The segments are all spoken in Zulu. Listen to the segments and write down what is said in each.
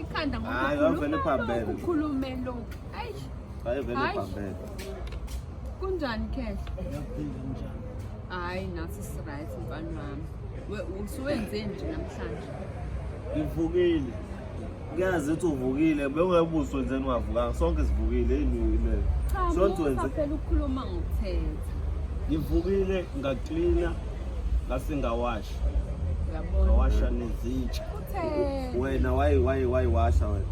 ikhanda Hayi, wavele phambene. ngokukhulume lokhu ayi Hayi vele Hayi. phambene. kunjani khehla hayi nathi siright mfana wami We- usuwenze nje namhlanje Ngivukile. Ngiyazi ukuthi uvukile, bewungebuso nje ningavukanga. Sonke sivukile yini yini. cha Sonke musa wenze. phela ukukhuluma ngokuthetha Ngivukile ngaklina ngase ngawasha. Uyabona? Ngawasha nezitsha. wena wayi wayi wayi washa wena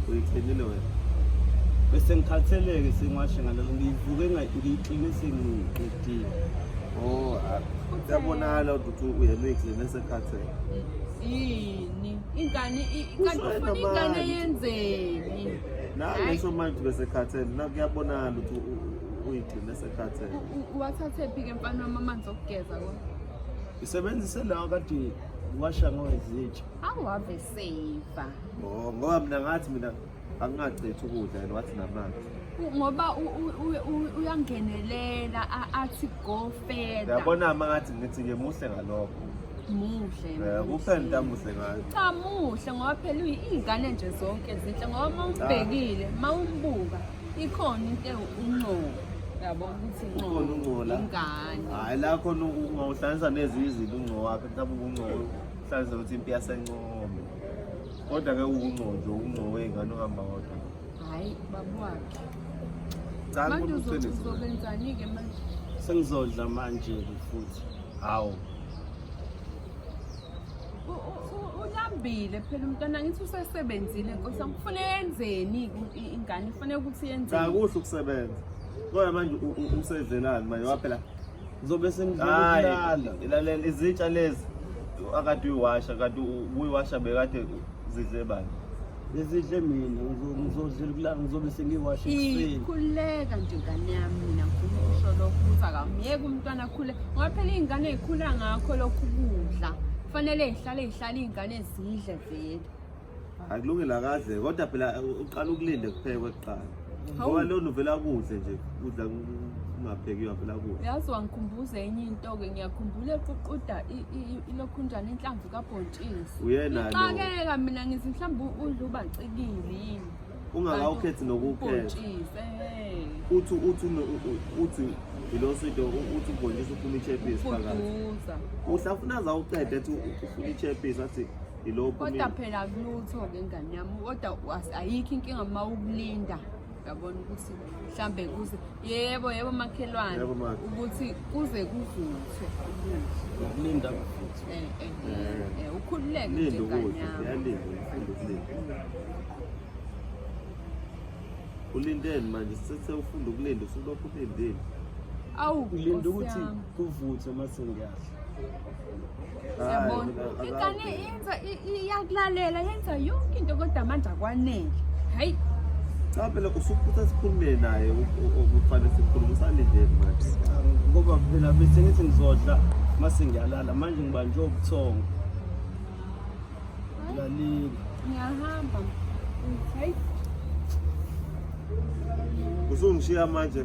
uyithenile wena bese ngikhatheleke sengiwashe ngalelo ngiyivuke ngiyikline sengiqedile oh yabonakala ukuthi uyemixile nesekhathele yini ingane kanti ufuna ingane yenzeni nangisho manje besekhathele nakuyabonakala ukuthi uyigcine sekhathele wathathe phi ke mfana wami amanzi okugeza kodwa isebenzise lawa kadini Washa ngowezitsha. Awave saver. Oh, ngoba mina ngathi mina akungacethi ukudla and wathi namanzi. Ngoba uyangenelela athi go further. Yabona ama ngathi ngithi ke muhle ngalokho. muhle eh, kuphela into amuhle ngayo cha muhle ngoba phela iy'ngane nje zonke zinhle ngoba uma umbhekile uma umbuka Ikhona into ewuncobo yabo ukuthi Ukhona incobo uncola. ingane. Hayi la khona ungawuhlanganisa nezinye izinto ungco wakhe mhlawumbe ubungco uhlanganisa ukuthi impi yasencome. Kodwa ke ungco nje ungco wey'ngane uhamba kodwa. Hayi babu wakhe. Cha Manje kumuntu uzothi uqiniso. uzobenzani-ke manje? Sengizodla manje futhi. Hawu. uhambile phela umntwana ngithi usesebenzile nkosi angifune yenzeni ingane ifune ukuthi yenzeni cha kuhle ukusebenza kodwa manje usedlelani manje waphela ngizobe sengidlala ilalela izitsha lezi akade uyiwasha kade uyiwasha bekade zidle bani Ngizidle mina ngizodlula ngizobe sengiwashe ekuseni. Ikhuleka nje ngane yami mina ngifuna ukusho lokho ukuthi akamyeke umntwana akhule ngoba phela iy'ngane ey'khula ngakho lokhu kudla kufanele y'hlale y'hlale iy'ngane zidle vele. Akulungile akaze kodwa phela uqala ukulinde kuphekwe kuqala. ngoba lo nuvela kuhle nje udla ungaphekiwe avela kuhle yazi wangikhumbuza enye into-ke ngiyakhumbula eququda ilokhunjana inhlamvu kabhontshisi uyena-ixakeka mina ngithi mhlawumbe udla ubacikile yini ungakawukhethi nokuwukhetha uthi uthi uthi yiloso into uthi ubhontshisi ufuna ichepisi phakathi uhlafuna zawuqeda ethi ufuna ichepisi athi Ilokhu kodwa mina- phela akulutho-ke ngane yami kodwa was- ayikho inkinga uma ukulinda uyabona ukuthi mhlambe kuze yebo yebo makhelwane Yebo, ma. ukuthi kuze kuvuthwe ukudla Ukulinda kuvuthwe. Eh, eh, eh, eh, ukhululeke nje Linda ngane ukudla, yami uyalinda, ufunda ukulinda. Ulindeni manje, sese ufunda ukulinda, usulokhu ulindile. awu Ngilinda Nkosi ukuthi yami. kuvuthwe uma sengiyadla. Siyabona. Ingane yenza i- i- iyakulalela yenza yonke into kodwa manje akwanele. Hayi Cha phela usuphutha sikhulume naye u- u- okufanele sikhulume usalindeni manje. ngoba phela bese ngithi ngizodla mase ngiyalala manje ngibanjwe ubuthongo ngilalile ngiyahamba. Hayi Usungishiya manje